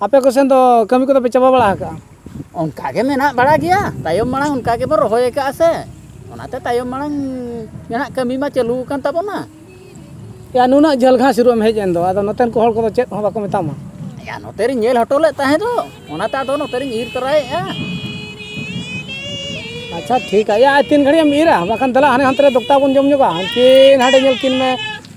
ᱟᱯᱮ ᱠᱚᱥᱮᱱ ᱫᱚ ᱠᱟᱹᱢᱤ ᱠᱚᱫᱚ ᱯᱮ ᱪᱟᱵᱟ ᱵᱟᱲᱟ ᱟᱠᱟᱜᱼᱟ ᱚᱱᱠᱟ ᱜᱮ ᱢᱮᱱᱟᱜ ᱵᱟᱲᱟ ᱜᱮᱭᱟ ᱛᱟᱭᱚᱢ ᱢᱟᱲᱟᱝ ᱚᱱᱠᱟ ᱜᱮᱵᱚᱱ ᱨᱚᱦᱚᱭ ᱟᱠᱟᱫᱼᱟ ᱥᱮ ᱚᱱᱟᱛᱮ ᱛᱟᱭᱚᱢ ᱢᱟᱲᱟᱝ ᱡᱟᱦᱟᱱᱟᱜ ᱠᱟᱹᱢᱤ ᱢᱟ ᱪᱟᱹᱞᱩ ᱟᱠᱟᱱ ᱛᱟᱵᱚᱱᱟ ᱭᱟ ᱱᱩᱱᱟᱹᱜ ᱡᱷᱟᱹᱞ ᱜᱷᱟᱥ ᱤᱨᱚᱜ ᱮᱢ ᱦᱮᱡ ᱮᱱ ᱫᱚ ᱟᱫᱚ ᱱᱚᱛᱮᱱ ᱠᱚ ᱦᱚᱲ ᱠᱚᱫᱚ ᱪᱮᱫ ᱦᱚᱸ ᱵᱟᱠᱚ ᱢᱮᱛᱟᱢᱟ ᱭᱟ ᱱᱚᱛᱮ ᱨᱤᱧ ᱧᱮᱞ ᱦᱚᱴᱚ ᱞᱮᱫ ᱛᱟᱦᱮᱸ ᱫᱚ ᱚᱱᱟᱛᱮ ᱟᱫᱚ ᱱᱚᱛᱮ ᱨᱤᱧ ᱤᱨ ᱛᱚᱨᱟᱭᱮᱫᱼᱟ ᱟᱪᱪᱷᱟ ᱴᱷᱤᱠ ᱜᱮᱭᱟ ᱛᱤᱱ ᱜᱷᱟᱹᱲᱤᱡ ᱮᱢ ᱤᱨᱟ ᱵᱟᱠᱷᱟᱱ ᱫᱮᱞᱟ ᱦᱟᱱᱮ ᱦᱟᱱᱛᱮ ᱨᱮ ᱫᱚᱠᱛᱟ ᱵᱚᱱ ᱡᱚᱢ ᱧᱚᱜᱟ ᱦᱟᱱᱠᱤᱱ ᱦᱟᱸᱰᱮ ᱧᱮᱞ ᱠᱤᱱ ᱢᱮ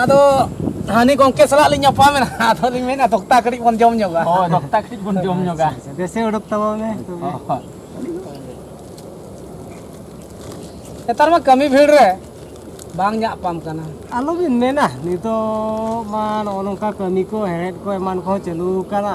ᱟᱫᱚ ᱦᱟᱹᱱᱤ ᱜᱚᱝᱠᱮ ᱥᱟᱞᱟᱜ ᱞᱤᱧ ᱧᱟᱯᱟᱢᱮᱱᱟ ᱟᱫᱚ ᱞᱤᱧ ᱢᱮᱱᱟ ᱫᱚᱠᱛᱟ ᱠᱟᱹᱴᱤᱡ ᱵᱚᱱ ᱡᱚᱢ ᱧᱚᱜᱟ ᱦᱳᱭ ᱫᱚᱠᱛᱟ ᱠᱟᱹᱴᱤᱡ ᱵᱚᱱ ᱡᱚᱢ ᱧᱚᱜᱟ ᱫᱮᱥᱮ ᱩᱰᱩᱠ ᱛᱟᱵᱚᱱ ᱢᱮ ᱱᱮᱛᱟᱨ ᱢᱟ ᱠᱟᱹᱢᱤ ᱵᱷᱤᱲ ᱨᱮ ᱵᱟᱝ ᱧᱟᱯᱟᱢ ᱠᱟᱱᱟ ᱟᱞᱚᱵᱤᱱ ᱢᱮᱱᱟ ᱱᱤᱛᱚᱜ ᱢᱟ ᱱᱚᱜᱼᱚ ᱱᱚᱝᱠᱟ ᱠᱟᱹᱢᱤ ᱠᱚ ᱦᱮᱲᱦᱮᱫ ᱠᱚ ᱮᱢᱟᱱ ᱠᱚᱦᱚᱸ ᱪᱟᱹᱞᱩ ᱟᱠᱟᱱᱟ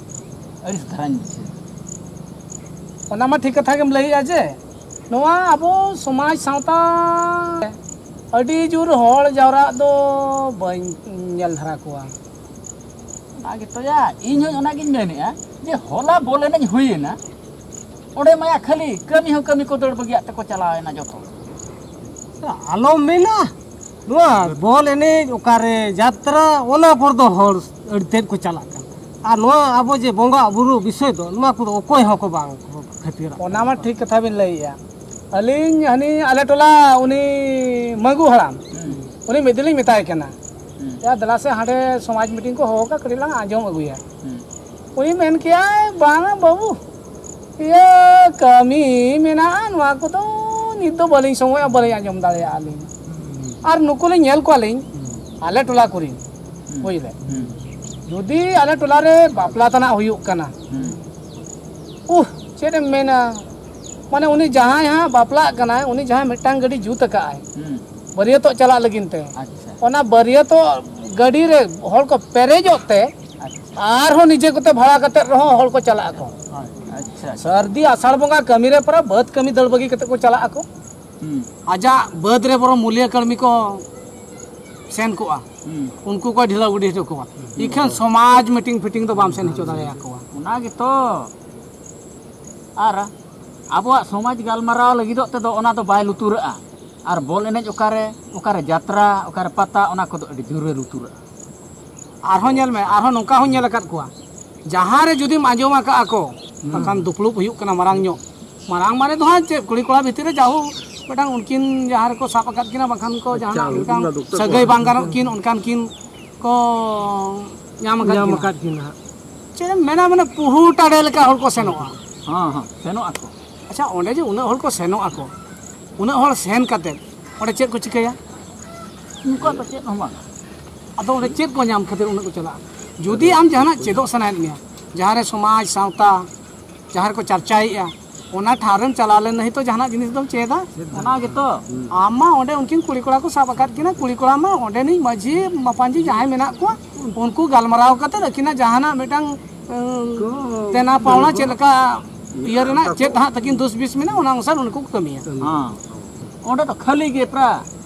ᱟᱹᱲᱤᱥ ᱫᱷᱟᱨᱟᱧ ᱵᱩᱡᱷᱟᱹᱣ ᱚᱱᱟ ᱢᱟ ᱴᱷᱤᱠ ᱠᱟᱛᱷᱟ ᱜᱮᱢ ᱞᱟᱹᱭᱮᱜᱼᱟ ᱡᱮ ᱱᱚᱣᱟ ᱟᱵᱚ ᱥᱚᱢᱟᱡᱽ ᱥᱟᱶᱛᱟ ᱟᱹᱰᱤ ᱡᱳᱨ ᱦᱚᱲ ᱡᱟᱣᱨᱟᱜ ᱫᱚ ᱵᱟᱹᱧ ᱧᱮᱞ ᱫᱷᱟᱨᱟ ᱠᱚᱣᱟ ᱚᱱᱟ ᱜᱮᱛᱚᱭᱟ ᱤᱧ ᱦᱚᱸ ᱚᱱᱟᱜᱤᱧ ᱢᱮᱱᱮᱜᱼᱟ ᱡᱮ ᱦᱚᱞᱟ ᱵᱚᱞ ᱮᱱᱮᱡ ᱦᱩᱭᱮᱱᱟ ᱚᱸᱰᱮ ᱢᱟᱭᱟ ᱠᱷᱟᱹᱞᱤ ᱠᱟᱹᱢᱤ ᱦᱚᱸ ᱠᱟᱹᱢᱤ ᱠᱚ ᱫᱟᱹᱲ ᱵᱟᱹᱜᱤᱭᱟᱜ ᱛᱮᱠᱚ ᱪᱟᱞᱟᱣᱮᱱᱟ ᱡᱚᱛᱚ ᱟᱞᱚᱢ ᱢᱮᱱᱟ ᱱᱚᱣᱟ ᱵᱚᱞ ᱮᱱᱮᱡ ᱚᱠᱟᱨᱮ ᱡᱟᱛᱨᱟ ᱚᱱᱟ ᱠᱚᱨᱮ ᱫᱚ ᱦᱚᱲ ᱟᱹᱰᱤ ᱛᱮᱫ ᱠᱚ ᱪᱟᱞᱟᱜ ᱠᱟᱱᱟ ᱟᱨ ᱱᱚᱣᱟ ᱟᱵᱚ ᱡᱮ ᱵᱚᱸᱜᱟ ᱵᱩᱨᱩ ᱵᱤᱥᱚᱭ ᱫᱚ ᱱᱚᱣᱟ ᱠᱚᱫᱚ ᱚᱠᱚᱭ ᱦᱚᱸᱠᱚ ᱵᱟᱝ ᱠᱚ ᱠᱷᱟᱹᱛᱤᱨᱟ ᱚᱱᱟ ᱢᱟ ᱴᱷᱤᱠ ᱠᱟᱛᱷᱟ ᱵᱤᱱ ᱞᱟᱹᱭᱮᱜᱼᱟ ᱟᱹᱞᱤᱧ ᱦᱟᱹᱱᱤ ᱟᱞᱮ ᱴᱚᱞᱟ ᱩᱱᱤ ᱢᱟᱹᱜᱩ ᱦᱟᱲᱟᱢ ᱩᱱᱤ ᱢᱤᱫ ᱫᱤᱱ ᱞᱤᱧ ᱢᱮᱛᱟᱭ ᱠᱟᱱᱟ ᱭᱟ ᱫᱮᱞᱟ ᱥᱮ ᱦᱟᱸᱰᱮ ᱥᱚᱢᱟᱡᱽ ᱢᱤᱴᱤᱝ ᱠᱚ ᱦᱚᱦᱚ ᱠᱟᱜᱼᱟ ᱠᱟᱹᱴᱤᱡ ᱞᱟᱝ ᱟᱸᱡᱚᱢ ᱟᱹᱜᱩᱭᱟ ᱩᱱᱤ ᱢᱮᱱ ᱠᱮᱭᱟᱭ ᱵᱟᱝᱟ ᱵᱟᱹᱵᱩ ᱤᱭᱟᱹ ᱠᱟᱹᱢᱤ ᱢᱮᱱᱟᱜᱼᱟ ᱱᱚᱣᱟ ᱠᱚᱫᱚ ᱱᱤᱛ ᱫᱚ ᱵᱟᱹᱞᱤᱧ ᱥᱚᱢᱚᱭᱟ ᱵᱟᱹᱞᱤᱧ ᱟᱸᱡᱚᱢ ᱫᱟᱲᱮᱭᱟᱜᱼᱟ ᱞᱤᱧ ᱟᱨ ᱱᱩᱠᱩ ᱞᱤᱧ ᱧᱮᱞ ᱠᱚᱣᱟ ᱞᱤᱧ ᱟᱞᱮ ᱴᱚᱞᱟ ᱠᱚᱨᱮᱱ ᱵᱩᱡᱽ ᱞᱮ ᱡᱩᱫᱤ ᱟᱞᱮ ᱴᱚᱞᱟ ᱨᱮ ᱵᱟᱯᱞᱟ ᱛᱟᱱᱟᱜ ᱦᱩᱭᱩᱜ ᱠᱟᱱᱟ ᱩᱦ ᱪᱮᱫ ᱮᱢ ᱢᱮᱱᱟ ᱢᱟᱱᱮ ᱩᱱᱤ ᱡᱟᱦᱟᱸᱭ ᱦᱟᱸᱜ ᱵᱟᱯᱞᱟᱜ ᱠᱟᱱᱟᱭ ᱩᱱᱤ ᱡᱟᱦᱟᱸᱭ ᱢᱤᱫᱴᱟᱝ ᱜᱟᱹᱰᱤ ᱡᱩᱛ ᱟᱠᱟᱫᱼᱟᱭ ᱵᱟᱹᱨᱭᱟᱹᱛᱚᱜ ᱪᱟᱞᱟᱜ ᱞᱟᱹᱜᱤᱫ ᱛᱮ ᱚᱱᱟ ᱵᱟᱹᱨᱭᱟᱹᱛᱚᱜ ᱜᱟᱹᱰᱤ ᱨᱮ ᱦᱚᱲ ᱠᱚ ᱯᱮᱨᱮᱡᱚᱜ ᱛᱮ ᱟᱨᱦᱚᱸ ᱱᱤᱡᱮ ᱠᱚᱛᱮ ᱵᱷᱟᱲᱟ ᱠᱟᱛᱮᱫ ᱨᱮᱦᱚᱸ ᱦᱚᱲ ᱠᱚ ᱪᱟᱞᱟᱜ ᱟᱠᱚ ᱥᱟᱹᱨᱫᱤ ᱟᱥᱟᱲ ᱵᱚᱸᱜᱟ ᱠᱟᱹᱢᱤ ᱨᱮ ᱯᱚᱨᱮ ᱵᱟᱹᱫᱽ ᱠᱟᱹᱢᱤ ᱫᱟᱹᱲ ᱵᱟᱹᱜᱤ ᱠᱟᱛᱮᱫ ᱠᱚ ᱪᱟᱞᱟᱜ ᱟᱠᱚ ᱟᱡᱟᱜ ᱵᱟᱹᱫᱽ ᱨᱮ ᱵᱚᱨᱚᱝ ᱢᱩᱞᱤᱭᱟᱹ ᱠᱟᱹᱢᱤ ᱠᱚ ᱥᱮᱱ ᱠᱚᱜᱼᱟ ᱩᱱᱠᱩ ᱠᱚ ᱰᱷᱤᱞᱟᱹᱣ ᱜᱤᱰᱤ ᱦᱚᱪᱚ ᱠᱚᱣᱟ ᱤᱠᱷᱟᱹᱱ ᱥᱚᱢᱟᱡᱽ ᱢᱤᱴᱤᱝ ᱯᱷᱤᱴᱤᱝ ᱫᱚ ᱵᱟᱢ ᱥᱮᱱ ᱦᱚᱪᱚ ᱫᱟᱲᱮᱭᱟᱠᱚᱣᱟ ᱚᱱᱟ ᱜᱮᱛᱚ ᱟᱨ ᱟᱵᱚᱣᱟᱜ ᱥᱚᱢᱟᱡᱽ ᱜᱟᱞᱢᱟᱨᱟᱣ ᱞᱟᱹᱜᱤᱫᱚᱜ ᱛᱮᱫᱚ ᱚᱱᱟ ᱫᱚ ᱵᱟᱭ ᱞᱩᱛᱩᱨᱟᱜᱼᱟ ᱟᱨ ᱵᱚᱞ ᱮᱱᱮᱡ ᱚᱠᱟᱨᱮ ᱚᱠᱟᱨᱮ ᱡᱟᱛᱨᱟ ᱚᱠᱟᱨᱮ ᱯᱟᱛᱟ ᱚᱱᱟ ᱠᱚᱫᱚ ᱟᱹᱰᱤ ᱡᱳᱨᱮ ᱞᱩᱛᱩᱨᱟᱜᱼᱟ ᱟᱨᱦᱚᱸ ᱧᱮᱞ ᱢᱮ ᱟᱨᱦᱚᱸ ᱱᱚᱝᱠᱟ ᱦᱚᱸ ᱧᱮᱞ ᱟᱠᱟᱫ ᱠᱚᱣᱟ ᱡᱟᱦᱟᱸ ᱨᱮ ᱡᱩᱫᱤᱢ ᱟᱸᱡᱚᱢ ᱟᱠᱟᱫᱼᱟ ᱠᱚ ᱵᱟᱠᱷᱟᱱ ᱫᱩᱯᱲᱩᱵ ᱦᱩᱭᱩᱜ ᱠᱟᱱᱟ ᱢᱟᱨᱟᱝ ᱧᱚᱜ ᱢᱟᱨᱟᱝ ᱢᱟᱱᱮ ᱫᱚ ᱦᱟᱸᱜ ᱪᱮᱫ ᱠᱩᱲᱤ ᱠᱚᱲᱟ ᱵᱷᱤᱛᱤᱨ ᱨᱮ ᱡᱟᱦᱳ ᱢᱤᱫᱴᱟᱝ ᱩᱱᱠᱤᱱ ᱡᱟᱦᱟᱸ ᱨᱮᱠᱚ ᱥᱟᱵ ᱟᱠᱟᱫ ᱠᱤᱱᱟ ᱵᱟᱠᱷᱟᱱ ᱠᱚ ᱡᱟᱦᱟᱱᱟᱜ ᱢᱤᱫᱴᱟᱝ ᱥᱟᱹᱜᱟᱹᱭ ᱵᱟᱝ ᱜᱟᱱᱚᱜ ᱠᱤᱱ ᱚᱱᱠᱟᱱ ᱠᱤᱱ ᱠᱚ ᱧᱟᱢ ᱟᱠᱟᱫ ᱧᱟᱢ ᱟᱠᱟᱫ ᱠᱤᱱᱟ ᱪᱮᱫ ᱮᱢ ᱢᱮᱱᱟ ᱢᱟᱱᱮ ᱯᱩᱦᱩ ᱴᱟᱰᱮ ᱞᱮᱠᱟ ᱦᱚᱲ ᱠᱚ ᱥᱮᱱᱚᱜᱼᱟ ᱦᱮᱸ ᱦᱮᱸ ᱥᱮᱱᱚᱜ ᱟᱠᱚ ᱟᱪᱪᱷᱟ ᱚᱸᱰᱮ ᱡᱮ ᱩᱱᱟᱹᱜ ᱦᱚᱲ ᱠᱚ ᱥᱮᱱᱚᱜ ᱟᱠᱚ ᱩᱱᱟᱹᱜ ᱦᱚᱲ ᱥᱮᱱ ᱠᱟᱛᱮ ᱚᱸᱰᱮ ᱪᱮᱫ ᱠᱚ ᱪᱤᱠᱟᱹᱭᱟ ᱩᱱᱠᱩᱣᱟᱜ ᱫᱚ ᱪᱮᱫ ᱦᱚᱸ ᱵᱟᱝ ᱟᱫᱚ ᱚᱸᱰᱮ ᱪᱮᱫ ᱠᱚ ᱧᱟᱢ ᱠᱷᱟᱹᱛᱤᱨ ᱩᱱᱟᱹᱜ ᱠᱚ ᱪᱟᱞᱟᱜᱼᱟ ᱡᱩᱫᱤ ᱟᱢ ᱡᱟᱦᱟᱱᱟᱜ ᱪᱮᱫᱚᱜ ᱥᱟᱱᱟᱭᱮᱫ ᱢᱮᱭᱟ ᱡᱟᱦᱟᱸ ᱨᱮ ᱥᱚᱢᱟᱡᱽ ᱥᱟᱶᱛᱟ ᱡᱟᱦᱟᱸ ᱨᱮᱠᱚ ᱪᱟᱨᱪᱟᱭᱮᱫᱼᱟ ᱚᱱᱟ ᱴᱷᱟᱶ ᱨᱮᱢ ᱪᱟᱞᱟᱣ ᱞᱮᱱ ᱱᱟᱹᱦᱤ ᱛᱚ ᱡᱟᱦᱟᱱᱟᱜ ᱡᱤᱱᱤᱥ ᱫᱚᱢ ᱪᱮᱫᱟ ᱚᱱᱟ ᱜᱮᱛᱚ ᱟᱢ ᱢᱟ ᱚᱸᱰᱮ ᱩᱱᱠᱤᱱ ᱠᱩᱲᱤ ᱠᱚᱲᱟ ᱠᱚ ᱥᱟᱵ ᱟᱠᱟᱫ ᱠᱤᱱᱟ ᱠᱩᱲᱤ ᱠᱚᱲᱟ ᱢᱟ ᱚᱸᱰᱮᱱᱤᱡ ᱢᱟᱺᱡᱷᱤ ᱢᱟᱯᱟᱧᱡᱤ ᱡᱟᱦᱟᱸᱭ ᱢᱮᱱᱟᱜ ᱠᱚᱣᱟ ᱩᱱᱠᱩ ᱜᱟᱞᱢᱟᱨᱟᱣ ᱠᱟᱛᱮ ᱟᱹᱠᱤᱱᱟᱜ ᱡᱟᱦᱟᱱᱟᱜ ᱢᱤᱫᱴᱟᱝ ᱫᱮᱱᱟ ᱯᱟᱣᱱᱟ ᱪᱮᱫ ᱞᱮᱠᱟ ᱤᱭᱟᱹ ᱨᱮᱱᱟᱜ ᱪᱮᱫ ᱦᱟᱸᱜ ᱛᱟᱹᱠᱤᱱ ᱫᱩᱥ ᱵᱤᱥ ᱢᱮᱱᱟᱜᱼᱟ ᱚᱱᱟ ᱚᱱᱩᱥᱟᱨ ᱩᱱᱠᱩ ᱠᱚ ᱠᱟᱹᱢᱤᱭᱟ ᱚᱸᱰᱮ ᱫᱚ ᱠᱷᱟᱹᱞᱤ ᱜᱮ ᱯᱨᱟ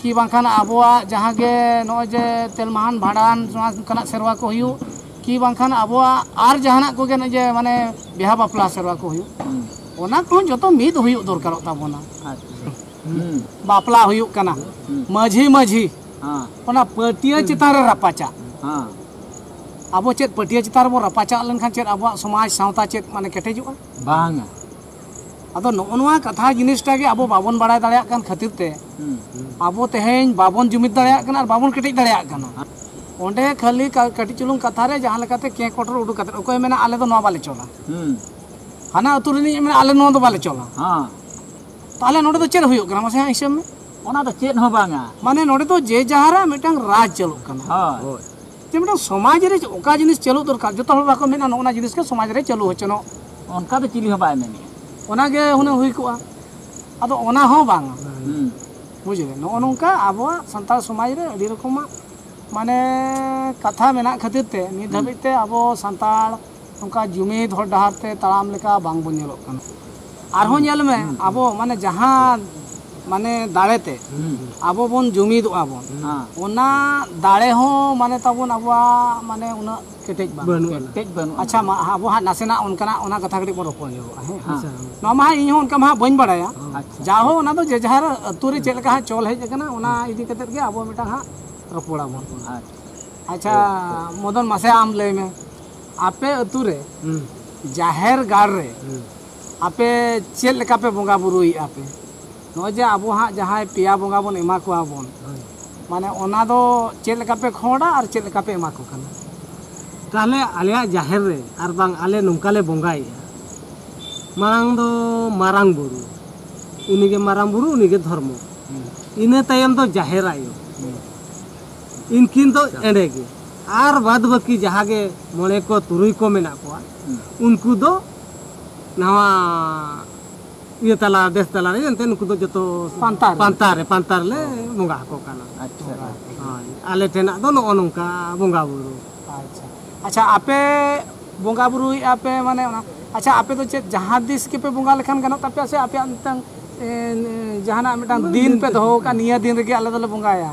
ᱠᱤ ᱵᱟᱝᱠᱷᱟᱱ ᱟᱵᱚᱣᱟᱜ ᱡᱟᱦᱟᱸ ᱜᱮ ᱱᱚᱜᱼᱚᱭ ᱡᱮ ᱛᱮᱞᱢᱟᱦᱟᱱ ᱵᱷᱟᱸᱰᱟᱱ ᱱᱚᱣᱟ ᱚᱱᱠᱟᱱᱟᱜ ᱥᱮᱨᱣᱟ ᱠᱚ ᱦᱩᱭᱩᱜ ᱠᱤ ᱵᱟᱝᱠᱷᱟᱱ ᱟᱵᱚᱣᱟᱜ ᱟᱨ ᱡᱟᱦᱟᱱᱟᱜ ᱠᱚᱜᱮ ᱱᱚᱜᱼᱚᱭ ᱡᱮ ᱢᱟᱱᱮ ᱵᱤᱦᱟ ᱵᱟᱯᱞᱟ ᱥᱮᱨᱣᱟ ᱠᱚ ᱦᱩᱭᱩᱜ ᱚᱱᱟ ᱠᱚᱦᱚᱸ ᱡᱚᱛᱚ ᱢᱤᱫ ᱦᱩᱭᱩᱜ ᱫᱚᱨᱠᱟᱨᱚᱜ ᱛᱟᱵᱚᱱᱟ ᱵᱟᱯᱞᱟ ᱦᱩᱭᱩᱜ ᱠᱟᱱᱟ ᱢᱟᱹᱡᱷᱤ ᱢᱟᱹᱡᱷᱤ ᱚᱱᱟ ᱯᱟᱹᱴᱭᱟᱹ ᱪᱮᱛᱟᱱ ᱨᱮ ᱨᱟᱯᱟᱪᱟᱜ ᱟᱵᱚ ᱪᱮᱫ ᱯᱟᱹᱴᱭᱟᱹ ᱪᱮᱛᱟᱱ ᱨᱮᱵᱚ ᱨᱟᱯᱟᱪᱟᱜ ᱞᱮᱱᱠᱷᱟᱱ ᱪᱮᱫ ᱟᱵᱚᱣᱟᱜ ᱥᱚᱢᱟᱡᱽ ᱥᱟᱶᱛᱟ ᱪᱮᱫ ᱢᱟᱱᱮ ᱠᱮᱴᱮᱡᱚᱜᱼᱟ ᱵᱟᱝᱟ ᱟᱫᱚ ᱱᱚᱜᱼᱚ ᱱᱚᱣᱟ ᱠᱟᱛᱷᱟ ᱡᱤᱱᱤᱥᱴᱟ ᱜᱮ ᱟᱵᱚ ᱵᱟᱵᱚᱱ ᱵᱟᱲᱟᱭ ᱫᱟᱲᱮᱭᱟᱜ ᱠᱟᱱ ᱠᱷᱟᱹᱛᱤᱨ ᱛᱮ ᱟᱵᱚ ᱛᱮᱦᱮᱧ ᱵᱟᱵᱚᱱ ᱡᱩᱢᱤᱫ ᱫᱟᱲᱮᱭᱟᱜ ᱠᱟᱱᱟ ᱟᱨ ᱵᱟᱵᱚᱱ ᱠᱮᱴᱮᱡ ᱫᱟᱲᱮᱭᱟᱜ ᱠᱟᱱᱟ ᱚᱸᱰᱮ ᱠᱷᱟᱹᱞᱤ ᱠᱟᱹᱴᱤᱡ ᱪᱩᱞᱩᱝ ᱠᱟᱛᱷᱟ ᱨᱮ ᱡᱟᱦᱟᱸ ᱞᱮᱠᱟᱛᱮ ᱠᱮ ᱠᱚᱴᱚᱨ ᱩᱰᱩᱠ ᱠᱟᱛᱮ ᱚᱠᱚᱭ ᱢᱮᱱᱟ ᱟᱞᱮ ᱫᱚ ᱱᱚᱣᱟ ᱵᱟᱞᱮ ᱪᱚᱞᱟ ᱦᱟᱱᱟ ᱟᱹᱛᱩ ᱨᱤᱱᱤᱡ ᱢᱮᱱᱟ ᱟᱞᱮ ᱱᱚᱣᱟ ᱫᱚ ᱵᱟᱞᱮ ᱪᱚᱞᱟ ᱛᱟᱦᱚᱞᱮ ᱱᱚᱰᱮ ᱫᱚ ᱪᱮᱫ ᱦᱩᱭᱩᱜ ᱠᱟᱱᱟ ᱢᱟᱥᱮ ᱦᱟᱸᱜ ᱦᱤᱥᱟᱹᱵ ᱢᱮ ᱚᱱᱟ ᱫᱚ ᱪᱮᱫ ᱦᱚᱸ ᱵᱟᱝᱟ ᱢᱟᱱᱮ ᱱᱚᱰᱮ ᱫᱚ ᱡᱮ ᱡᱟᱦᱟᱨᱟᱜ ᱢᱤᱫᱴᱟᱝ ᱨᱟᱡᱽ ᱪᱟᱹᱞᱩᱜ ᱠᱟᱱᱟ ᱡᱮ ᱢᱤᱫᱴᱟᱝ ᱥᱚᱢᱟᱡᱽ ᱨᱮ ᱚᱠᱟ ᱡᱤᱱᱤᱥ ᱪᱟᱹᱞᱩ ᱫᱚᱨᱠᱟᱨ ᱡᱚᱛᱚ ᱦᱚᱲ ᱵᱟᱠᱚ ᱢᱮᱱᱟ ᱱᱚᱜᱼᱚ ᱱᱟ ᱡᱤᱱᱤᱥ ᱜᱮ ᱥᱚᱢᱟᱡᱽ ᱨᱮ ᱪᱟᱹᱞᱩ ᱦᱚᱪᱚᱱᱚᱜ ᱚᱱᱠᱟ ᱫᱚ ᱪᱤᱞᱤ ᱦᱚᱸ ᱵᱟᱭ ᱢᱮᱱᱮᱫᱼᱟ ᱚᱱᱟᱜᱮ ᱦᱩᱱᱟᱹᱝ ᱦᱩᱭ ᱠᱚᱜᱼᱟ ᱟᱫᱚ ᱚᱱᱟ ᱦᱚᱸ ᱵᱟᱝᱟ ᱵᱩᱡᱽ ᱞᱮ ᱱᱚᱜᱼᱚ ᱱᱚᱝᱠᱟ ᱟᱵᱚᱣᱟᱜ ᱥᱟᱱᱛᱟᱲ ᱥᱚᱢᱟᱡᱽ ᱨᱮ ᱟᱹᱰᱤ ᱨᱚᱠᱚᱢᱟᱜ ᱢᱟᱱᱮ ᱠᱟᱛᱷᱟ ᱢᱮᱱᱟᱜ ᱠᱷᱟᱹᱛᱤᱨ ᱛᱮ ᱱᱤᱛ ᱫᱷᱟᱹᱵᱤᱡ ᱛᱮ ᱟᱵᱚ ᱥᱟᱱᱛᱟᱲ ᱚᱱᱠᱟ ᱡᱩᱢᱤᱫ ᱦᱚᱨ ᱰᱟᱦᱟᱨ ᱛᱮ ᱛᱟᱲᱟᱢ ᱞᱮᱠᱟ ᱵᱟᱝ ᱵᱚᱱ ᱧᱮᱞᱚᱜ ᱠᱟᱱᱟ ᱟᱨᱦᱚᱸ ᱧᱮᱞ ᱢᱮ ᱟᱵᱚ ᱢᱟᱱᱮ ᱡᱟᱦᱟᱸ ᱢᱟᱱᱮ ᱫᱟᱲᱮ ᱛᱮ ᱟᱵᱚ ᱵᱚᱱ ᱡᱩᱢᱤᱫᱚᱜᱼᱟ ᱵᱚᱱ ᱚᱱᱟ ᱫᱟᱲᱮ ᱦᱚᱸ ᱢᱟᱱᱮ ᱛᱟᱵᱚᱱ ᱟᱵᱚᱣᱟᱜ ᱢᱟᱱᱮ ᱩᱱᱟᱹᱜ ᱠᱮᱴᱮᱡ ᱵᱟᱝ ᱠᱮᱴᱮᱡ ᱵᱟᱹᱱᱩᱜᱼᱟ ᱟᱪᱪᱷᱟ ᱢᱟ ᱟᱵᱚ ᱦᱟᱸᱜ ᱱᱟᱥᱮᱱᱟᱜ ᱚᱱᱠᱟᱱᱟᱜ ᱚᱱᱟ ᱠᱟᱛᱷᱟ ᱠᱟᱹᱴᱤᱡ ᱵᱚᱱ ᱨᱚᱯᱚᱲ ᱧᱚᱜᱚᱜᱼᱟ ᱦᱮᱸ ᱱᱚᱣᱟ ᱢᱟ ᱦᱟᱸᱜ ᱤᱧ ᱦᱚᱸ ᱚᱱᱠᱟ ᱢᱟ ᱦᱟᱸᱜ ᱵᱟᱹᱧ ᱵᱟᱲᱟᱭᱟ ᱡᱟ ᱦᱚᱸ ᱚᱱᱟ ᱫᱚ ᱡᱮ ᱡᱟᱦᱟᱨ ᱟᱹᱛᱩ ᱨᱮ ᱪᱮᱫ ᱞᱮᱠᱟ ᱦᱟᱸᱜ ᱪᱚᱞ ᱦᱮᱡ ᱟᱠᱟᱱᱟ ᱚᱱᱟ ᱤᱫᱤ ᱠᱟᱛᱮᱫ ᱜᱮ ᱟᱵᱚ ᱢᱤᱫᱴᱟᱝ ᱦᱟᱸᱜ ᱨᱚᱯᱚᱲᱟᱵᱚᱱ ᱟᱪᱪᱷᱟ ᱢᱚᱫᱚᱱ ᱢᱟᱥᱮ ᱟᱢ ᱞᱟᱹᱭ ᱢᱮ ᱟᱯᱮ ᱟᱹᱛᱩ ᱨᱮ ᱡᱟᱦᱮᱨ ᱜᱟᱲ ᱨᱮ ᱟᱯᱮ ᱪᱮᱫ ᱞᱮᱠᱟ ᱯᱮ ᱵᱚᱸᱜᱟ ᱵᱩᱨᱩᱭᱮᱫᱼᱟ ᱯᱮ ᱱᱚᱜᱼᱚᱭ ᱡᱮ ᱟᱵᱚ ᱦᱟᱸᱜ ᱡᱟᱦᱟᱸᱭ ᱯᱮᱭᱟ ᱵᱚᱸᱜᱟ ᱵᱚᱱ ᱮᱢᱟ ᱠᱚᱣᱟ ᱵᱚᱱ ᱢᱟᱱᱮ ᱚᱱᱟ ᱫᱚ ᱪᱮᱫ ᱞᱮᱠᱟ ᱯᱮ ᱠᱷᱚᱸᱰᱟ ᱟᱨ ᱪᱮᱫ ᱞᱮᱠᱟ ᱯᱮ ᱮᱢᱟ ᱠᱚ ᱠᱟᱱᱟ ᱛᱟᱦᱚᱞᱮ ᱟᱞᱮᱭᱟᱜ ᱡᱟᱦᱮᱨ ᱨᱮ ᱟᱨ ᱵᱟᱝ ᱟᱞᱮ ᱱᱚᱝᱠᱟ ᱞᱮ ᱵᱚᱸᱜᱟᱭᱮᱫᱼᱟ ᱢᱟᱲᱟᱝ ᱫᱚ ᱢᱟᱨᱟᱝ ᱵᱩᱨᱩ ᱩᱱᱤ ᱜᱮ ᱢᱟᱨᱟᱝ ᱵᱩᱨᱩ ᱩᱱᱤ ᱜᱮ ᱫᱷᱚᱨᱢᱚ ᱤᱱᱟᱹ ᱛᱟᱭᱚᱢ ᱫᱚ ᱡᱟᱦᱮᱨ ᱟᱭᱳ ᱤᱱᱠᱤᱱ ᱫᱚ ᱮᱸᱰᱮ ᱜᱮ ᱟᱨ ᱵᱟᱫᱽ ᱵᱟᱹᱠᱤ ᱡᱟᱦᱟᱸ ᱜᱮ ᱢᱚᱬᱮ ᱠᱚ ᱛᱩᱨᱩᱭ ᱠᱚ ᱢᱮᱱᱟᱜ ᱠᱚᱣᱟ ᱩᱱᱠᱩ ᱫᱚ ᱱᱟᱣᱟ ᱤᱭᱟᱹ ᱛᱟᱞᱟ ᱫᱮᱥ ᱛᱟᱞᱟ ᱨᱮ ᱮᱱᱛᱮ ᱩᱱᱠᱩ ᱫᱚ ᱡᱚᱛᱚ ᱯᱟᱱᱛᱟᱨ ᱯᱟᱱᱛᱟᱨ ᱨᱮ ᱯᱟᱱᱛᱟᱨ ᱞᱮ ᱵᱚᱸᱜᱟ ᱟᱠᱚ ᱠᱟᱱᱟ ᱟᱪᱪᱷᱟ ᱦᱳᱭ ᱟᱞᱮ ᱴᱷᱮᱱᱟᱜ ᱫᱚ ᱱᱚᱜᱼᱚ ᱱᱚᱝᱠᱟ ᱵᱚᱸᱜᱟ ᱵᱩᱨᱩ ᱟᱪᱪᱷᱟ ᱟᱪᱪᱷᱟ ᱟᱯᱮ ᱵᱚᱸᱜᱟ ᱵᱩᱨᱩᱭᱮᱫᱼᱟ ᱯᱮ ᱢᱟᱱᱮ ᱚᱱᱟ ᱟᱪᱪᱷᱟ ᱟᱯᱮ ᱫᱚ ᱪᱮᱫ ᱡᱟᱦᱟᱸ ᱛᱤᱥ ᱜᱮᱯᱮ ᱵᱚᱸᱜᱟ ᱞᱮᱠᱷᱟᱱ ᱜᱟᱱᱚᱜ ᱛᱟᱯᱮᱭᱟ ᱥᱮ ᱟᱯᱮᱭᱟᱜ ᱢᱤᱫᱴᱟᱝ ᱡᱟᱦᱟᱱᱟᱜ ᱢᱤᱫᱴᱟᱝ ᱫᱤᱱ ᱯᱮ ᱫᱚᱦᱚ ᱟᱠᱟᱫ ᱱᱤᱭᱟᱹ ᱫᱤᱱ ᱨᱮᱜᱮ ᱟᱞᱮ ᱫᱚᱞᱮ ᱵᱚᱸᱜᱟᱭᱟ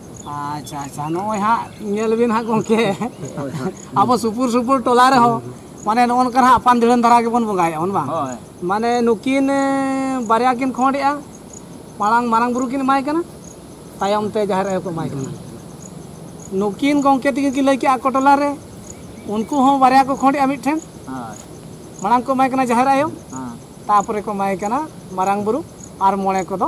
ᱟᱪᱪᱷᱟ ᱟᱪᱪᱷᱟ ᱱᱚᱜᱼᱚᱭ ᱦᱟᱸᱜ ᱧᱮᱞ ᱵᱤᱱ ᱦᱟᱸᱜ ᱜᱚᱢᱠᱮ ᱟᱵᱚ ᱥᱩᱯᱩᱨ ᱥᱩᱯᱩᱨ ᱴᱚᱞᱟ ᱨᱮᱦᱚᱸ ᱢᱟᱱᱮ ᱱᱚᱜᱼᱚ ᱱᱚᱝᱠᱟ ᱦᱟᱸᱜ ᱟᱯᱟᱱ ᱫᱷᱤᱲᱟᱹᱱ ᱫᱷᱟᱨᱟ ᱜᱮᱵᱚᱱ ᱵᱚᱸᱜᱟᱭᱮᱫᱼᱟ ᱵᱚᱱ ᱵᱟᱝ ᱢᱟᱱᱮ ᱱᱩᱠᱤᱱ ᱵᱟᱨᱭᱟ ᱠᱤᱱ ᱠᱷᱚᱸᱰᱮᱜᱼᱟ ᱢᱟᱲᱟᱝ ᱢᱟᱨᱟᱝ ᱵᱩᱨᱩ ᱠᱤᱱ ᱮᱢᱟᱭ ᱠᱟᱱᱟ ᱛᱟᱭᱚᱢ ᱛᱮ ᱡᱟᱦᱮᱨ ᱟᱭᱳ ᱠᱚ ᱮᱢᱟᱭ ᱠᱟᱱᱟ ᱱᱩᱠᱤᱱ ᱜᱚᱢᱠᱮ ᱛᱤᱠᱤᱱ ᱠᱤᱱ ᱞᱟᱹᱭ ᱠᱮᱜᱼᱟ ᱟᱠᱚ ᱴᱚᱞᱟ ᱨᱮ ᱩᱱᱠᱩ ᱦᱚᱸ ᱵᱟᱨᱭᱟ ᱠᱚ ᱠᱷᱚᱸᱰᱮᱜᱼᱟ ᱢᱤᱫᱴᱷᱮᱱ ᱢᱟᱲᱟᱝ ᱠᱚ ᱮᱢᱟᱭ ᱠᱟᱱᱟ ᱡᱟᱦᱮᱨ ᱟᱭᱳ ᱛᱟᱯᱚᱨᱮ ᱠᱚ ᱮᱢᱟᱭ ᱠᱟᱱᱟ ᱢᱟᱨᱟᱝ ᱵᱩᱨᱩ ᱟᱨ ᱢᱚᱬᱮ ᱠᱚᱫᱚ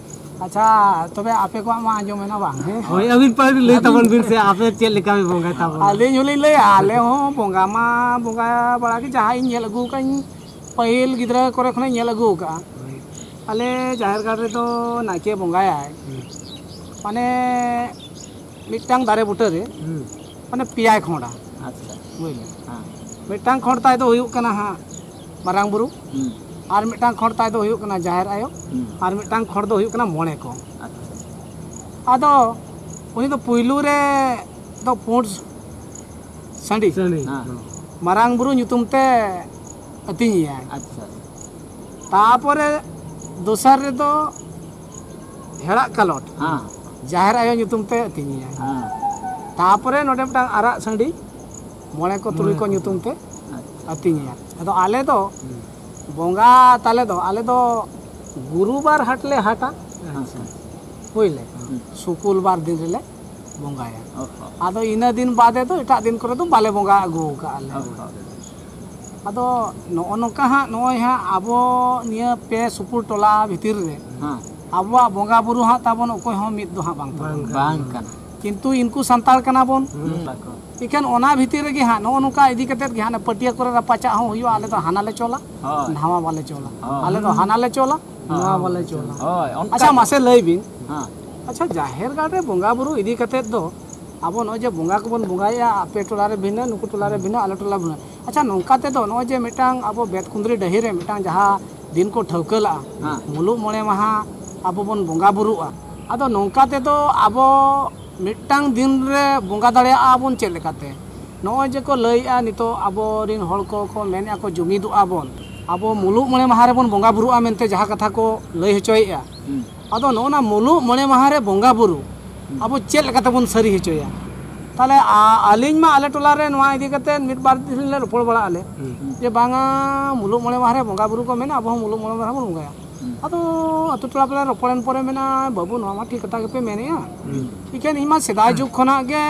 ᱟᱪᱪᱷᱟ ᱛᱚᱵᱮ ᱟᱯᱮ ᱠᱚᱣᱟᱜ ᱢᱟ ᱟᱸᱡᱚᱢ ᱮᱱᱟ ᱵᱟᱝ ᱦᱮᱸ ᱦᱳᱭ ᱟᱹᱵᱤᱱ ᱯᱟᱹᱦᱤᱞ ᱞᱟᱹᱭ ᱛᱟᱵᱚᱱ ᱵᱤᱱ ᱥᱮ ᱟᱯᱮ ᱪᱮᱫ ᱞᱮᱠᱟ ᱯᱮ ᱵᱚᱸᱜᱟᱭ ᱛᱟᱵᱚᱱᱟ ᱟᱹᱞᱤᱧ ᱦᱚᱸᱞᱤᱧ ᱞᱟᱹᱭᱟ ᱟᱞᱮ ᱦᱚᱸ ᱵᱚᱸᱜᱟ ᱢᱟ ᱵᱚᱸᱜᱟ ᱵᱟᱲᱟ ᱜᱮ ᱡᱟᱦᱟᱸ ᱤᱧ ᱧᱮᱞ ᱟᱹᱜᱩ ᱠᱟᱜ ᱤᱧ ᱯᱟᱹᱦᱤᱞ ᱜᱤᱫᱽᱨᱟᱹ ᱠᱚᱨᱮ ᱠᱷᱚᱱᱤᱧ ᱧᱮᱞ ᱟᱹᱜᱩ ᱠᱟᱜᱼᱟ ᱟᱞᱮ ᱡᱟᱦᱮᱨ ᱜᱟᱲ ᱨᱮᱫᱚ ᱱᱟᱭᱠᱮ ᱵᱚᱸᱜᱟᱭᱟᱭ ᱢᱟᱱᱮ ᱢᱤᱫᱴᱟᱝ ᱫᱟᱨᱮ ᱵᱩᱴᱟᱹᱨᱮ ᱢᱟᱱᱮ ᱯᱮᱭᱟᱭ ᱠᱷᱚᱸᱰᱟ ᱟᱪᱪᱷᱟ ᱵᱩᱡᱽ ᱢᱤᱫᱴᱟᱝ ᱠᱷᱚᱸᱰ ᱛᱟᱭ ᱫᱚ ᱦᱩᱭᱩᱜ ᱠᱟᱱᱟ ᱦᱟᱸᱜ ᱢᱟᱨᱟᱝ ᱵᱩᱨᱩ ᱟᱨ ᱢᱤᱫᱴᱟᱝ ᱠᱷᱚᱸᱰ ᱛᱟᱭ ᱫᱚ ᱦᱩᱭᱩᱜ ᱠᱟᱱᱟ ᱡᱟᱦᱮᱨ ᱟᱭᱳ ᱟᱨ ᱢᱤᱫᱴᱟᱝ ᱠᱷᱚᱸᱰ ᱫᱚ ᱦᱩᱭᱩᱜ ᱠᱟᱱᱟ ᱢᱚᱬᱮ ᱠᱚ ᱟᱫᱚ ᱩᱱᱤ ᱫᱚ ᱯᱩᱭᱞᱩ ᱨᱮ ᱫᱚ ᱯᱩᱸᱰ ᱥᱟᱺᱰᱤ ᱢᱟᱨᱟᱝ ᱵᱩᱨᱩ ᱧᱩᱛᱩᱢ ᱛᱮ ᱟᱹᱛᱤᱧᱮᱭᱟᱭ ᱛᱟᱯᱚᱨᱮ ᱫᱚᱥᱟᱨ ᱨᱮᱫᱚ ᱦᱮᱲᱟᱜ ᱠᱟᱞᱚᱴ ᱡᱟᱦᱮᱨ ᱟᱭᱳ ᱧᱩᱛᱩᱢ ᱛᱮ ᱟᱹᱛᱤᱧᱮᱭᱟᱭ ᱛᱟᱯᱚᱨᱮ ᱱᱚᱰᱮ ᱢᱤᱫᱴᱟᱝ ᱟᱨᱟᱜ ᱥᱟᱺᱰᱤ ᱢᱚᱬᱮ ᱠᱚ ᱛᱩᱨᱩᱭ ᱠᱚ ᱧᱩᱛᱩᱢ ᱛᱮ ᱟᱹᱛᱤᱧᱮᱭᱟ ᱟᱫᱚ ᱟᱞᱮ ᱫᱚ ᱵᱚᱸᱜᱟ ᱛᱟᱞᱮ ᱫᱚ ᱟᱞᱮ ᱫᱚ ᱜᱩᱨᱩᱵᱟᱨ ᱦᱟᱴ ᱞᱮ ᱦᱟᱴᱟ ᱦᱩᱭᱞᱮ ᱥᱩᱠᱩᱞ ᱵᱟᱨ ᱫᱤᱱ ᱨᱮᱞᱮ ᱵᱚᱸᱜᱟᱭᱟ ᱟᱫᱚ ᱤᱱᱟᱹ ᱫᱤᱱ ᱵᱟᱫᱮ ᱫᱚ ᱮᱴᱟᱜ ᱫᱤᱱ ᱠᱚᱨᱮ ᱫᱚ ᱵᱟᱞᱮ ᱵᱚᱸᱜᱟ ᱟᱹᱜᱩ ᱠᱟᱜᱼᱟ ᱞᱮ ᱟᱫᱚ ᱱᱚᱜᱼᱚ ᱱᱚᱝᱠᱟ ᱦᱟᱸᱜ ᱱᱚᱜᱼᱚᱭ ᱦᱟᱸᱜ ᱟᱵᱚ ᱱᱤᱭᱟᱹ ᱯᱮ ᱥᱩᱯᱩᱨ ᱴᱚᱞᱟ ᱵᱷᱤᱛᱤᱨ ᱨᱮ ᱟᱵᱚᱣᱟᱜ ᱵᱚᱸᱜᱟ ᱵᱩᱨᱩ ᱦᱟᱸᱜ ᱛᱟᱵᱚᱱ ᱚᱠᱚᱭ ᱦᱚᱸ ᱢᱤᱫ ᱫᱚ ᱦᱟᱸᱜ ᱵᱟᱝ ᱛᱟᱵᱚᱱ ᱵᱟᱝ ᱠᱟᱱᱟ ᱠᱤᱱᱛᱩ ᱤᱱᱠᱩ ᱥᱟᱱᱛᱟᱲ ᱠᱟᱱᱟ ᱵᱚᱱ ᱤᱠᱷᱟᱱ ᱚᱱᱟ ᱵᱷᱤᱛᱤᱨ ᱨᱮᱜᱮ ᱦᱟᱸᱜ ᱱᱚᱜᱼᱚ ᱱᱚᱝᱠᱟ ᱤᱫᱤ ᱠᱟᱛᱮ ᱜᱮ ᱦᱟᱸᱜ ᱯᱟᱹᱴᱤᱭᱟᱹ ᱠᱚᱨᱮ ᱨᱟᱯᱟᱪᱟᱜ ᱦᱚᱸ ᱦᱩᱭᱩᱜᱼᱟ ᱟᱞᱮ ᱫᱚ ᱦᱟᱱᱟ ᱞᱮ ᱪᱚᱞᱟ ᱱᱟᱣᱟ ᱵᱟᱞᱮ ᱪᱚᱞᱟ ᱟᱞᱮ ᱫᱚ ᱦᱟᱱᱟ ᱞᱮ ᱪᱚᱞᱟ ᱱᱟᱣᱟ ᱵᱟᱞᱮ ᱪᱚᱞᱟ ᱟᱪᱪᱷᱟ ᱢᱟᱥᱮ ᱞᱟᱹᱭ ᱵᱤᱱ ᱟᱪᱪᱷᱟ ᱡᱟᱦᱮᱨ ᱜᱟᱲ ᱨᱮ ᱵᱚᱸᱜᱟ ᱵᱩᱨᱩ ᱤᱫᱤ ᱠᱟᱛᱮ ᱫᱚ ᱟᱵᱚ ᱱᱚᱜᱼᱚᱭ ᱡᱮ ᱵᱚᱸᱜᱟ ᱠᱚᱵᱚᱱ ᱵᱚᱸᱜᱟᱭᱮᱜᱼᱟ ᱟᱯᱮ ᱴᱚᱞᱟ ᱨᱮ ᱵᱷᱤᱱᱟᱹ ᱱᱩᱠᱩ ᱴᱚᱞᱟ ᱨᱮ ᱵᱷᱤᱱᱟᱹ ᱟᱞᱮ ᱴᱚᱞᱟ ᱨᱮ ᱵᱷᱤᱱᱟᱹ ᱟᱪᱪᱷᱟ ᱱᱚᱝᱠᱟ ᱛᱮᱫᱚ ᱱᱚᱜᱼᱚᱭ ᱡᱮ ᱢᱤᱫᱴᱟᱝ ᱟᱵᱚ ᱵᱮᱫ ᱠᱩᱸᱫᱽᱨᱤ ᱰᱟᱹᱦᱤ ᱨᱮ ᱢᱤᱫᱴᱟᱝ ᱡᱟᱦᱟᱸ ᱫᱤᱱ ᱠᱚ ᱴᱷᱟᱹᱣᱠᱟᱹ ᱞᱟᱜᱼᱟ ᱦᱮᱸ᱾ ᱢᱩᱞᱩᱜ ᱢᱚᱬᱮ ᱢᱟᱦᱟ ᱟᱵᱚ ᱵᱚᱱ ᱵᱚᱸᱜᱟ ᱵᱩᱨᱩᱜᱼᱟ ᱟᱫᱚ ᱱᱚᱝᱠᱟ ᱛᱮᱫᱚ ᱟᱵᱚ ᱢᱤᱫᱴᱟᱝ ᱫᱤᱱ ᱨᱮ ᱵᱚᱸᱜᱟ ᱫᱟᱲᱮᱭᱟᱜᱼᱟ ᱵᱚᱱ ᱪᱮᱫ ᱞᱮᱠᱟᱛᱮ ᱱᱚᱜᱼᱚᱭ ᱡᱮ ᱠᱚ ᱞᱟᱹᱭᱮᱜᱼᱟ ᱱᱤᱛᱚᱜ ᱟᱵᱚᱨᱤᱱ ᱦᱚᱲ ᱠᱚ ᱠᱚ ᱢᱮᱱᱮᱜᱼᱟ ᱠᱚ ᱡᱩᱢᱤᱫᱚᱜᱼᱟ ᱵᱚᱱ ᱟᱵᱚ ᱢᱩᱞᱩᱜ ᱢᱚᱬᱮ ᱢᱟᱦᱟ ᱨᱮᱵᱚᱱ ᱵᱚᱸᱜᱟ ᱵᱩᱨᱩᱜᱼᱟ ᱢᱮᱱᱛᱮ ᱡᱟᱦᱟᱸ ᱠᱟᱛᱷᱟ ᱠᱚ ᱞᱟᱹᱭ ᱦᱚᱪᱚᱭᱮᱜᱼᱟ ᱦᱩᱸ᱾ ᱟᱫᱚ ᱱᱚᱜᱼᱚ ᱱᱟ ᱢᱩᱞᱩᱜ ᱢᱚᱬᱮ ᱢᱟᱦᱟ ᱨᱮ ᱵᱚᱸᱜᱟ ᱵᱩᱨᱩ ᱟᱵᱚ ᱪᱮᱫ ᱞᱮᱠᱟ ᱛᱮᱵᱚᱱ ᱥᱟᱹᱨᱤ ᱦᱚᱪᱚᱭᱟ ᱛᱟᱦᱚᱞᱮ ᱟᱹᱞᱤᱧ ᱢᱟ ᱟᱞᱮ ᱴᱚᱞᱟ ᱨᱮ ᱱᱚᱣᱟ ᱤᱫᱤ ᱠᱟᱛᱮ ᱢᱤᱫ ᱵᱟᱨ ᱫᱤᱱ ᱞᱮ ᱨᱚᱯᱚᱲ ᱵᱟᱲᱟᱜ ᱟᱞᱮ ᱡᱮ ᱵᱟᱝᱟ ᱢᱩᱞᱩᱜ ᱢᱚᱬᱮ ᱢᱟᱦᱟ ᱨᱮ ᱵᱚᱸᱜᱟ ᱵᱩᱨᱩ ᱠᱚ ᱢᱮᱱᱟᱜᱼᱟ ᱟᱵᱚ ᱦᱚᱸ ᱢᱩᱞᱩᱜ ᱢᱚᱬᱮ ᱢᱟᱦᱟ ᱵᱚᱱ ᱵᱚᱸᱜᱟᱭᱟ ᱟᱫᱚ ᱟᱛᱳ ᱴᱚᱞᱟ ᱯᱟᱲᱟ ᱨᱚᱯᱚᱲᱮᱱ ᱯᱚᱨᱮ ᱢᱮᱱᱟ ᱵᱟᱹᱵᱩ ᱱᱚᱣᱟ ᱢᱟ ᱴᱷᱤᱠ ᱠᱟᱛᱷᱟ ᱜᱮᱯᱮ ᱢᱮᱱᱮᱜᱼᱟ ᱤᱠᱷᱟᱹᱱ ᱤᱧ ᱢᱟ ᱥᱮᱫᱟᱭ ᱡᱩᱜᱽ ᱠᱷᱚᱱᱟᱜ ᱜᱮ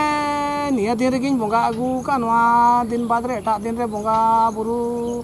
ᱱᱤᱭᱟᱹ ᱫᱤᱱ ᱨᱮᱜᱮᱧ ᱵᱚᱸᱜᱟ ᱟᱹᱜᱩ ᱟᱠᱟᱫ ᱱᱚᱣᱟ ᱫᱤᱱ ᱵᱟᱫᱽ ᱨᱮ ᱮᱴᱟᱜ ᱫᱤᱱ ᱨᱮ ᱵᱚᱸᱜᱟ ᱵᱩᱨᱩ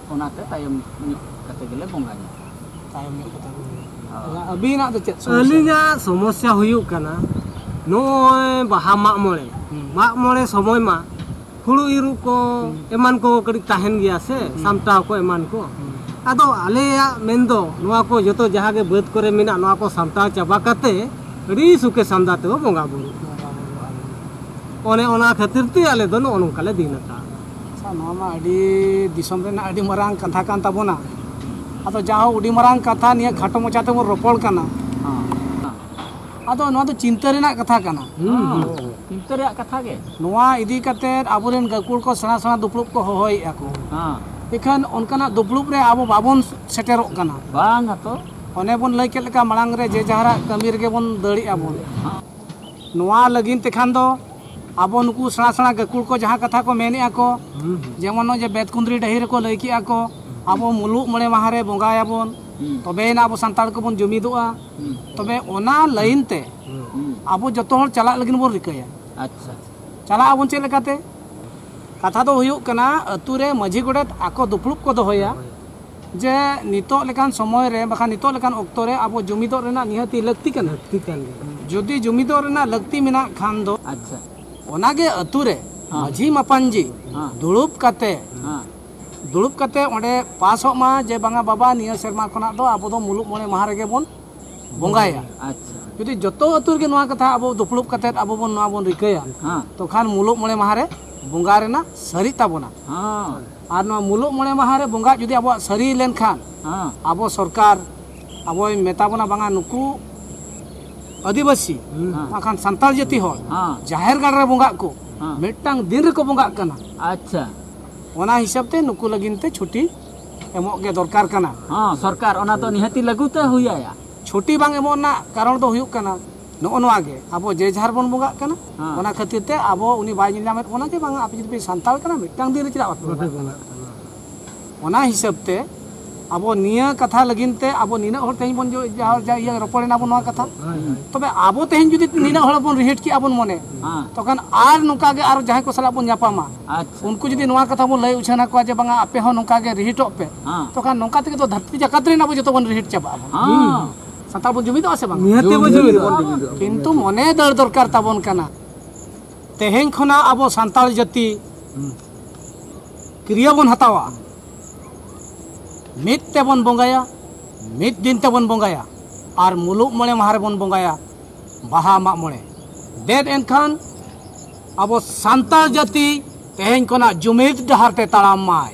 ᱚᱱᱟᱛᱮ ᱛᱟᱭᱚᱢ ᱧᱚᱜ ᱠᱟᱛᱮ ᱜᱮᱞᱮ ᱵᱚᱸᱜᱟ ᱧᱚᱜ ᱛᱟᱭᱚᱢ ᱧᱚᱜ ᱠᱟᱛᱮ ᱟᱹᱵᱤᱱᱟᱜ ᱫᱚ ᱪᱮᱫ ᱟᱹᱞᱤᱧᱟᱜ ᱥᱚᱢᱚᱥᱥᱟ ᱦᱩᱭᱩᱜ ᱠᱟᱱᱟ ᱱᱚᱜᱼᱚᱭ ᱵᱟᱦᱟ ᱢᱟᱜ ᱢᱚᱬᱮ ᱢᱟᱜ ᱢᱚᱬᱮ ᱥᱚᱢᱚᱭ ᱢᱟ ᱦᱩᱲᱩ ᱤᱨᱩ ᱠᱚ ᱮᱢᱟᱱ ᱠᱚ ᱠᱟᱹᱴᱤᱡ ᱛᱟᱦᱮᱱ ᱜᱮᱭᱟ ᱥᱮ ᱥᱟᱢᱴᱟᱣ ᱠᱚ ᱮᱢᱟᱱ ᱠᱚ ᱟᱫᱚ ᱟᱞᱮᱭᱟᱜ ᱢᱮᱱ ᱫᱚ ᱱᱚᱣᱟ ᱠᱚ ᱡᱚᱛᱚ ᱡᱟᱦᱟᱸ ᱜᱮ ᱵᱟᱹᱫᱽ ᱠᱚᱨᱮ ᱢᱮᱱᱟᱜ ᱱᱚᱣᱟ ᱠᱚ ᱥᱟᱢᱴᱟᱣ ᱪᱟᱵᱟ ᱠᱟᱛᱮ ᱟᱹᱰᱤ ᱥᱩᱠᱮ ᱥᱟᱢᱫᱟ ᱛᱮᱵᱚ ᱵᱚᱸᱜᱟ ᱵᱩᱨᱩᱜ ᱚᱱᱮ ᱚᱱᱟ ᱠᱷᱟᱹᱛᱤᱨ ᱛᱮ ᱟᱞᱮ ᱫᱚ ᱱᱚᱜᱼᱚ ᱱᱚᱝᱠᱟ ᱞᱮ ᱫᱤᱱ ᱟᱠᱟᱫᱼᱟ ᱟᱪᱪᱷᱟ ᱱᱚᱣᱟ ᱢᱟ ᱟᱹᱰᱤ ᱫᱤᱥᱚᱢ ᱨᱮᱱᱟᱜ ᱟᱹᱰᱤ ᱢᱟᱨᱟᱝ ᱠᱟᱛᱷᱟ ᱠᱟᱱ ᱛᱟᱵᱚᱱᱟ ᱟᱫᱚ ᱡᱟᱦᱟᱸ ᱟᱹᱰᱤ ᱢᱟᱨᱟᱝ ᱠᱟᱛᱷᱟ ᱱᱤᱭᱟᱹ ᱠᱷᱟᱴᱚ ᱢᱚᱪᱟ ᱛᱮᱵᱚᱱ ᱨᱚᱯᱚᱲ ᱠᱟᱱᱟ ᱟᱫᱚ ᱱᱚᱣᱟ ᱫᱚ ᱪᱤᱱᱛᱟᱹ ᱨᱮᱱᱟᱜ ᱠᱟᱛᱷᱟ ᱠᱟᱱᱟ ᱪᱤᱱᱛᱟᱹ ᱨᱮᱭᱟᱜ ᱠᱟᱛᱷᱟ ᱜᱮ ᱱᱚᱣᱟ ᱤᱫᱤ ᱠᱟᱛᱮ ᱟᱵᱚᱨᱮᱱ ᱜᱟᱹᱠᱩᱲ ᱠᱚ ᱥᱮᱬᱟ ᱥᱮᱬᱟ ᱫᱩᱯᱲᱩᱵ ᱠᱚ ᱦᱚᱦᱚᱭᱮᱫᱼᱟ ᱠᱚ ᱮᱠᱷᱟᱱ ᱚᱱᱠᱟᱱᱟᱜ ᱫᱩᱯᱲᱩᱵ ᱨᱮ ᱟᱵᱚ ᱵᱟᱵᱚᱱ ᱥᱮᱴᱮᱨᱚᱜ ᱠᱟᱱᱟ ᱵᱟᱝ ᱟᱛᱚ ᱚᱱᱮ ᱵᱚᱱ ᱞᱟᱹᱭ ᱠᱮᱫ ᱞᱮᱠᱟ ᱢᱟᱲᱟᱝ ᱨᱮ ᱡᱮ ᱡᱟᱦᱟᱨᱟᱜ ᱠᱟᱹᱢᱤ ᱨᱮᱜᱮ ᱵᱚᱱ ᱫᱟᱹᱲᱮᱜᱼᱟ ᱵᱚᱱ ᱱᱚᱣᱟ ᱞᱟᱹᱜᱤᱫ ᱛᱮᱠᱷᱟᱱ ᱫᱚ ᱟᱵᱚ ᱱᱩᱠᱩ ᱥᱮᱬᱟ ᱥᱮᱬᱟ ᱜᱟᱹᱠᱩᱲ ᱠᱚ ᱡᱟᱦᱟᱸ ᱠᱟᱛᱷᱟ ᱠᱚ ᱢᱮᱱᱮᱫᱼᱟ ᱠᱚ ᱡᱮᱢᱚᱱ ᱱᱚᱜᱼᱚᱭ ᱡᱮ ᱵᱮᱫ ᱠᱩᱸᱫᱽᱨᱤ ᱰᱟᱹᱦᱤ ᱨᱮᱠᱚ ᱞᱟᱹᱭ ᱠᱮᱫᱼᱟ ᱠᱚ ᱟᱵᱚ ᱢᱩᱞᱩᱜ ᱢᱚᱬᱮ ᱢᱟᱦᱟ ᱨᱮ ᱵᱚᱸᱜᱟᱭᱟᱵᱚᱱ ᱛᱚᱵᱮᱭᱮᱱᱟ ᱟᱵᱚ ᱥᱟᱱᱛᱟᱲ ᱠᱚᱵᱚᱱ ᱡᱩᱢᱤᱫᱚᱜᱼᱟ ᱛᱚᱵᱮ ᱚᱱᱟ ᱞᱟᱹᱭᱤᱱ ᱛᱮ ᱟᱵᱚ ᱡᱚᱛᱚ ᱦᱚᱲ ᱪᱟᱞᱟᱜ ᱞᱟᱹᱜᱤᱫ ᱵᱚᱱ ᱨᱤᱠᱟᱹᱭᱟ ᱟᱪᱪᱷᱟ ᱪᱟᱞᱟᱜ ᱟᱵᱚᱱ ᱪᱮᱫ ᱞᱮᱠᱟᱛᱮ ᱠᱟᱛᱷᱟ ᱫᱚ ᱦᱩᱭᱩᱜ ᱠᱟᱱᱟ ᱟᱹᱛᱩ ᱨᱮ ᱢᱟᱺᱡᱷᱤ ᱜᱚᱰᱮᱛ ᱟᱠᱚ ᱫᱩᱯᱲᱩᱵ ᱠᱚ ᱫᱚᱦᱚᱭᱟ ᱡᱮ ᱱᱤᱛᱚᱜ ᱞᱮᱠᱟᱱ ᱥᱚᱢᱚᱭ ᱨᱮ ᱵᱟᱠᱷᱟᱱ ᱱᱤᱛᱚᱜ ᱞᱮᱠᱟᱱ ᱚᱠᱛᱚ ᱨᱮ ᱟᱵᱚ ᱡᱩᱢᱤᱫᱚᱜ ᱨᱮᱱᱟᱜ ᱱᱤᱦᱟᱹᱛᱤ ᱞᱟᱹᱠᱛᱤ ᱠᱟᱱᱟ ᱞᱟᱹᱠᱛᱤ ᱠᱟᱱ ᱜᱮᱭᱟ ᱡᱩᱫᱤ ᱡᱩᱢᱤᱫᱚᱜ ᱨᱮᱱᱟᱜ ᱞᱟᱹᱠᱛᱤ ᱢᱮᱱᱟᱜ ᱠᱷᱟᱱ ᱫᱚ ᱟᱪᱪᱷᱟ ᱚᱱᱟᱜᱮ ᱟᱹᱛᱩ ᱨᱮ ᱢᱟᱹᱡᱷᱤ ᱢᱟᱯᱟᱱᱡᱤ ᱫᱩᱲᱩᱵ ᱠᱟᱛᱮ ᱫᱩᱲᱩᱵ ᱠᱟᱛᱮ ᱚᱸᱰᱮ ᱯᱟᱥᱚᱜ ᱢᱟ ᱡᱮ ᱵᱟᱝᱟ ᱵᱟᱵᱟ ᱱᱤᱭᱟᱹ ᱥᱮᱨᱢᱟ ᱠᱷᱚᱱᱟᱜ ᱫᱚ ᱟᱵᱚ ᱫᱚ ᱢᱩᱞᱩᱜ ᱢᱚᱬᱮ ᱢᱟᱦᱟ ᱨᱮᱜᱮ ᱵᱚᱱ ᱵᱚᱸᱜᱟᱭᱟ ᱟᱪᱪᱷᱟ ᱡᱩᱫᱤ ᱡᱚᱛᱚ ᱟᱹᱛᱩ ᱨᱮᱜᱮ ᱱᱚᱣᱟ ᱠᱟᱛᱷᱟ ᱟᱵᱚ ᱫᱩᱯᱲᱩᱵ ᱠᱟᱛᱮ ᱟᱵᱚ ᱵᱚᱱ ᱱᱚᱣᱟ ᱵᱚᱱ ᱨᱤᱠᱟᱹᱭᱟ ᱛᱚᱠᱷᱟᱱ ᱢᱩᱞᱩᱜ ᱢᱚᱬᱮ ᱢᱟᱦᱟ ᱨᱮ ᱵᱚᱸᱜᱟ ᱨᱮᱱᱟᱜ ᱥᱟᱹᱨᱤᱜ ᱛᱟᱵᱚᱱᱟ ᱟᱨ ᱱᱚᱣᱟ ᱢᱩᱞᱩᱜ ᱢᱚᱬᱮ ᱢᱟᱦᱟ ᱨᱮ ᱵᱚᱸᱜᱟ ᱡᱩᱫᱤ ᱟᱵᱚᱣᱟᱜ ᱥᱟᱹᱨᱤ ᱞᱮᱱᱠᱷᱟᱱ ᱟᱵᱚ ᱥᱚᱨᱠᱟᱨ ᱟᱵᱚᱭ ᱢᱮᱛᱟ ᱵᱚᱱᱟ ᱵᱟᱝᱟ ᱱᱩᱠᱩ ᱟᱹᱫᱤᱵᱟᱹᱥᱤ ᱵᱟᱝᱠᱷᱟᱱ ᱥᱟᱱᱛᱟᱲ ᱡᱟᱹᱛᱤ ᱦᱚᱲ ᱡᱟᱦᱮᱨ ᱜᱟᱲ ᱨᱮ ᱵᱚᱸᱜᱟᱜ ᱠᱚ ᱢᱤᱫᱴᱟᱝ ᱫᱤᱱ ᱨᱮᱠᱚ ᱵᱚᱸᱜᱟᱜ ᱠᱟᱱᱟ ᱟᱪᱪᱷᱟ ᱚᱱᱟ ᱦᱤᱥᱟᱹᱵ ᱛᱮ ᱱᱩᱠᱩ ᱞᱟᱹᱜᱤᱫ ᱛᱮ ᱪᱷᱩᱴᱤ ᱮᱢᱚᱜ ᱜᱮ ᱫᱚᱨᱠᱟᱨ ᱠᱟᱱᱟ ᱥᱚᱨᱠᱟᱨ ᱚᱱᱟ ᱫᱚ ᱱᱤᱦᱟᱹᱛᱤ ᱞᱟᱹᱜᱩ ᱛᱮ ᱦᱩᱭᱟᱭᱟ ᱪᱷᱩᱴᱤ ᱵᱟᱝ ᱮᱢᱚᱜ ᱨᱮᱱᱟᱜ ᱠᱟᱨᱚᱱ ᱫᱚ ᱦᱩᱭᱩᱜ ᱠᱟᱱᱟ ᱱᱚᱜᱼᱚ ᱱᱚᱣᱟ ᱜᱮ ᱟᱵᱚ ᱡᱮ ᱡᱟᱦᱟᱨ ᱵᱚᱱ ᱵᱚᱸᱜᱟᱜ ᱠᱟᱱᱟ ᱚᱱᱟ ᱠᱷᱟᱹᱛᱤᱨ ᱛᱮ ᱟᱵᱚ ᱩᱱᱤ ᱵᱟᱭ ᱧᱮᱞ ᱧᱟᱢᱮᱫ ᱵᱚᱱᱟ ᱡᱮ ᱵᱟᱝ ᱟᱯᱮ ᱡᱩᱫᱤ ᱯᱮ ᱥᱟᱱᱛᱟᱲ ᱠᱟᱱᱟ ᱢᱤᱫᱴᱟᱝ ᱫᱤᱱ ᱨᱮ ᱪᱮᱫᱟᱜ ᱵᱟᱯᱮ ᱵᱚᱸᱜᱟᱜ ᱠᱟᱱᱟ ᱚᱱᱟ ᱦᱤᱥᱟᱹᱵ ᱛᱮ ᱟᱵᱚ ᱱᱤᱭᱟᱹ ᱠᱟᱛᱷᱟ ᱞᱟᱹᱜᱤᱫ ᱛᱮ ᱟᱵᱚ ᱱᱤᱱᱟᱹᱜ ᱦᱚᱲ ᱛᱮᱦᱮᱧ ᱵᱚᱱ ᱤᱭᱟᱹ ᱨᱚᱯᱚᱲ ᱮᱱᱟ ᱵᱚᱱ ᱱᱚᱣᱟ ᱠᱟᱛᱷᱟ ᱛᱚᱵᱮ ᱟᱵᱚ ᱛᱮᱦᱮᱧ ᱡᱩᱫᱤ ᱱᱤᱱᱟᱹᱜ ᱦᱚᱲ ᱵᱚᱱ ᱨᱤᱦᱤᱴ ᱠᱮᱜᱼᱟ ᱵᱚᱱ ᱢᱚᱱᱮ ᱛᱚᱠᱷᱟᱱ ᱟᱨ ᱱᱚᱝᱠᱟ ᱜᱮ ᱟᱨ ᱡᱟᱦᱟᱸᱭ ᱠᱚ ᱥᱟᱞᱟᱜ ᱵᱚᱱ ᱧᱟᱯᱟᱢᱟ ᱩᱱᱠᱩ ᱡᱩᱫᱤ ᱱᱚᱣᱟ ᱠᱟᱛᱷᱟ ᱵᱚᱱ ᱞᱟᱹᱭ ᱩᱪᱷᱟᱹᱱ ᱟᱠᱚᱣᱟ ᱡᱮ ᱵᱟᱝᱟ ᱟᱯᱮ ᱦᱚᱸ ᱱᱚᱝᱠᱟ ᱜᱮ ᱨᱤᱦᱤᱴᱚᱜ ᱯᱮ ᱛᱚᱠᱷᱟᱱ ᱱᱚᱝᱠᱟ ᱛᱮᱜᱮ ᱫᱚ ᱫᱷᱟᱹᱨᱛᱤ ᱡᱟᱠᱟᱛ ᱨᱮᱱ ᱟᱵᱚ ᱡᱚᱛᱚ ᱵᱚᱱ ᱨᱤᱦᱤᱴ ᱪᱟᱵᱟᱜᱼᱟ ᱥᱟᱱᱛᱟᱲ ᱵᱚᱱ ᱡᱩᱢᱤᱫᱚᱜᱼᱟ ᱥᱮ ᱵᱟᱝ ᱱᱤᱦᱟᱹᱛ ᱵᱚᱱ ᱡᱩᱢᱤᱫᱚᱜᱼᱟ ᱠᱤᱱᱛᱩ ᱢᱚᱱᱮ ᱫᱟᱹᱲ ᱫᱚᱨᱠᱟর ᱛᱟᱵᱚᱱ ᱠᱟᱱᱟ ᱛᱮᱦᱮᱧ ᱠᱷᱚᱱᱟᱜ ᱟᱵᱚ ᱥᱟᱱᱛᱟᱲ ᱡᱟᱹᱛᱤ ᱠᱨᱤᱭᱟ ᱵᱚᱱ ᱦᱟᱛᱟᱣᱟ ᱢᱤᱫ ᱛᱮᱵᱚᱱ ᱵᱚᱸᱜᱟᱭᱟ ᱢᱤᱫ ᱫᱤᱱ ᱛᱮᱵᱚᱱ ᱵᱚᱸᱜᱟᱭᱟ ᱟᱨ ᱢᱩᱞᱩᱜ ᱢᱚᱬᱮ ᱢᱟᱦᱟ ᱨᱮᱵᱚᱱ ᱵᱚᱸᱜᱟᱭᱟ ᱵᱟᱦᱟ ᱢᱟᱜ ᱢᱚᱬᱮ ᱫᱮᱫ ᱮᱱᱠᱷᱟᱱ ᱟᱵᱚ ᱥᱟᱱᱛᱟᱲ ᱡᱟᱹᱛᱤ ᱛᱮᱦᱮᱧ ᱠᱷᱚᱱᱟᱜ ᱡᱩᱢᱤᱫ ᱰᱟᱦᱟᱨ ᱛᱮ ᱛᱟᱲᱟᱢ ᱢᱟᱭ